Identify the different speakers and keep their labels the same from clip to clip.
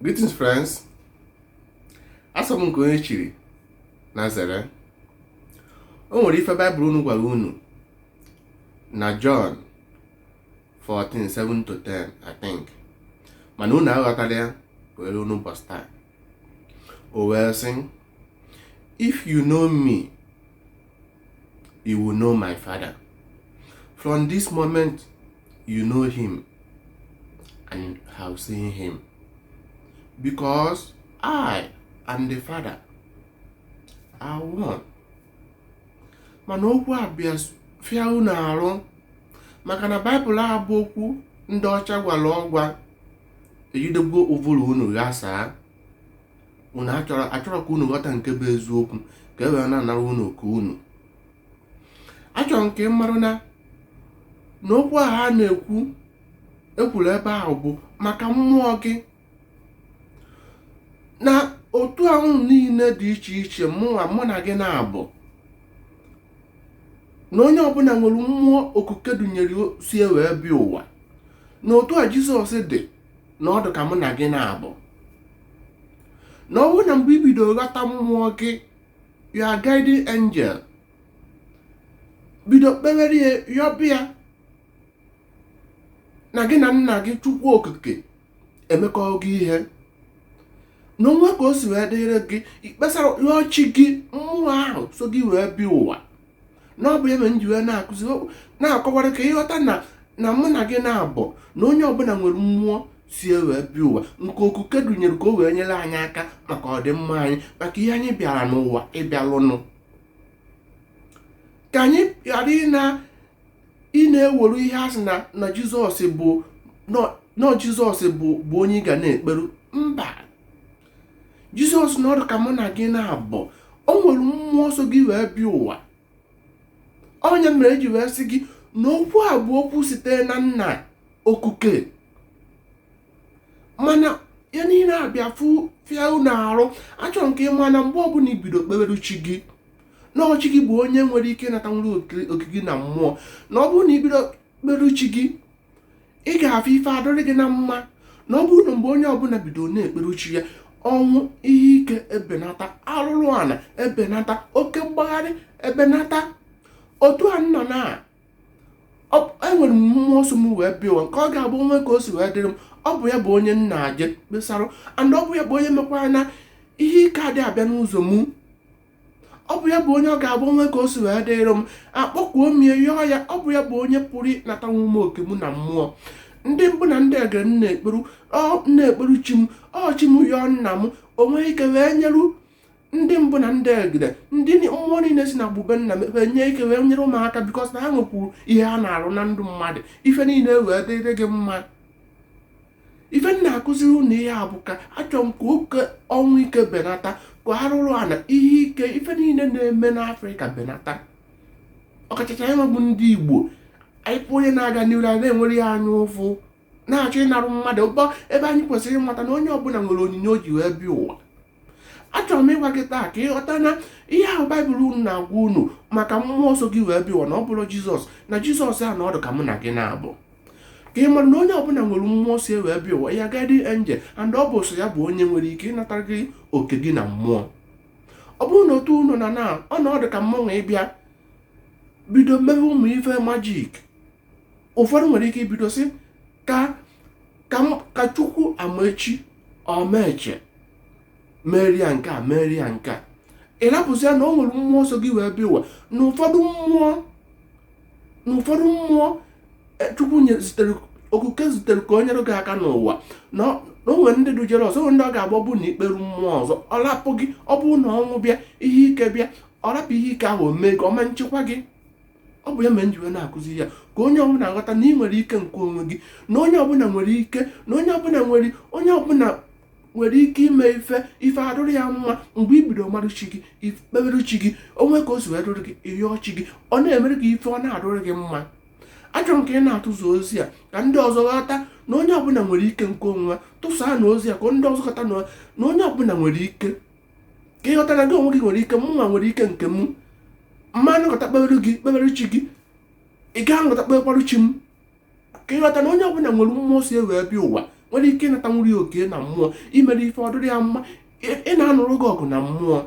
Speaker 1: Greetings friends, asị m nke onye chiri nya zere o nwere ife baịbụl unu gwara unu na John 14 7 to 10 I think mana unu aghọtarọ ya wee ruo n'ụbọsị taa o wee sị if you know me you will know my father from this moment you know him and have seen him because I and the father are one mana okwu a bịa fịa unu arụ maka na baịbụl a bụ okwu ndị ọcha gwara ọgwa eji degbuo ụvụrụ unu ghasaa unu achọrọ ka unu ghọta nke bụ eziokwu ka e wee na-anara unu oke unu achọrọ m ka ị marụ na okwu a ha na-ekwu e kwuru ebe ahụ bụ maka mmụọ gị na otu ahụ niile dị iche iche mụ na gị naabọ na onye ọbụla nwere mmụọ okuke dunyere so ya wee bịa ụwa na otu a jizọs dị na ọ dụ ka mụ na gị naabọ na ọ bụrụ na mgbe i bido ghọta mmụọ gị your guiding angel bido kpewere ya yọba ya na gị na nna gị chukwu okike emekọgo ihe na o nwee ka o si wee dịrị gị i kpesara chi gị mmụọ ahụ so gị wee bịa ụwa na ọ bụ ihe mere m ji wee na-akụzi na-akọwara ka ị ghọta na mụ na gị naabọ na onye ọbụla nwere mmụọ so ya wee bịa ụwa nke okuke dunyere ka o wee nyere anyị aka maka ọdịmma anyị maka ihe anyị bịara n'ụwa ịbịalụnụ ka anyị ghara ịna ịna-ewere ihe a sị na na jizọs bụ na ọ jizọs bụ bụ onye ị ga na-ekperu mba jizọs na ọ dụ ka mụ na gị naabọ o nwere mmụọ so gị wee bịa ụwa ọ nya mere eji wee sị gị na okwu a bụ okwu sitere na nna okuke mana ya niile abịa fịa unu arụ achọrọ m ka ị ma na mgbe ọbụla i bido kpebere chi gị na ọ chi gị bụ onye nwere ike ịnatanwuru oke gị na mmụọ na ọ bụrụ na i bido kpebere chi gị ị ga-afụ ife adịrị gị na mma na ọ bụrụ na mgbe onye ọbụla bido na-ekpere chi ya ọnwụ ihe ike ebenata arụrụ ala ebenata oke mgbagharị ebenata otu a nọ na enwere m mmụọ so m wee bịa ụwa nke ọ ga-abụ o nwee ka o si wee dịrị m ọ bụ ya bụ onye m na-eje ekpesara and ọ bụ ya bụ onye mekwara na ihe ike adị abịa n'ụzọ mụ ọ bụ ya bụ onye ọ ga-abụ o nwee ka o si wee dịrị m akpọkuo m ya yọọ ya ọ bụ ya bụ onye pụrụ ịnatanwu m oke m na mmụọ ndị mbụ na ndị egede m na-ekperu ọ na-ekperu chi m ọ chi m yọọ nna m o nwee ike wee nyeru ndị mbụ na ndị egede ndị ni- mmụọ niile si na gbube nna m wee nwee ike wee nyere mụ aka bikọs na ha nwekwuru ihe ha na-arụ na ndụ mmadụ ife niile wee dịrị gị mma ife m na-akụziri unu ihe a bụ ka achọrọ m ka oke ọnwụ ike benata ka arụrụ ana ihe ike ife niile na-eme n'afrịka benata ọkachacha anyịnwa bụ ndị igbo anyị fụ onye na-aga n'iru anyị na-enwere ya anya ụfụ na-achọ ịnarụ mmadụ ụba ebe anyị kwesịrị ịmata na onye ọbụla nwere onyinye o ji wee bịa ụwa achọrọ m ịgwa gị taa ka ịghọta na ihe ahụ baịbụl unu na-agwa unu maka mmụọ so gị wee bịa ụwa na ọ bụrọ jizọs na jizọs a na ọ dụ ka mụ na gị na-abụ ka ị mara na onye ọbụla nwere mmụọ so ya wee bịa ụwa ya guardian angel and ọ bụ so ya bụ onye nwere ike ịnatara gị oke gị na mmụọ ọ bụrụ na otu unu na na ọ na ọ dụ ka mụnwa ịbịa bido mebe ụmụ ife majik ụfọdụ nwere ike ibido sị ka ka m- ka chukwu amaechi ọmaeche merie ya nke a merie ya nke a ị rapụzi ya na o nwere mmụọ so gị wee bịa ụwa na ụfọdụ mmụọ na ụfọdụ mmụọ eh, chukwu nye zitere okike zitere ka o nyere gị aka n'ụwa na ọ- na o nwere ndị dujere ọzọ o nwere ndị ọ ga-agba bụ na i kperu mmụọ ọzọ ọ rapụ gị ọ bụrụ na ọnwụ bịa ihe ike bịa ọ rapụ ihe ike ahụ o mee gị ọ ma nchekwa gị ọ bụ ya mere m ji wee na-akụzi ya ka onye ọbụla ghọta na ị nwere ike nke onwe gị na onye ọbụla nwere ike na onye ọbụla nwere onye ọbụla nwere ike ime ife ife adụrụ ya mma mgbe i bido marụ chi gị i kpebere chi gị o nwee ka o si wee dụrụ gị ị yọọ chi gị ọ na-emere gị ife ọ na-adụrụ gị mma achọrọ m ka ị na-atụzu ozi a ka ndị ọzọ ghọta na onye ọbụla nwere ike nke onwe tụsaanụ ozi a ka ndị ọzọ ghọta na onye ọbụla nwere ike ka ị ghọta na gị onwe gị nwere ike mụnwa nwere ike nke m m ma anọkata kpebere gị kpebere chi gị ị gaa anọkata kpebekwarụ chi m ka ị ghọta na onye ọbụla nwere mmụọ so ya wee bịa ụwa nwere ike ịnatanwuru oke na mmụọ imere ife ọ dụrụ ya mma ị na-anụrụ gị ọgụ na mmụọ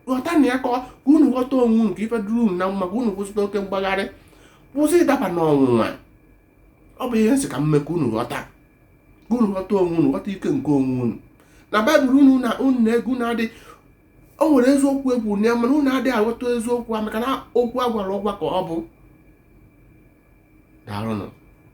Speaker 1: ghọtanụ ya ka unu ghọta onwe nke ife dụrụ unu na mma ka unu kwụsịta oke mgbagharị kwụsị ịdaba n'ọnwụnwa ọ bụ ihe m sị ka m mee ka unu ghọta ka unu ghọta onwe unu ghọta ike nke onwe unu na baịbụl unu na unu na-agụ na-adị o nwere eziokwu e kwuru na ya mana unu adịghị aghọta eziokwu a maka na okwu a gwara ọgwa ka ọ bụ daalụnụ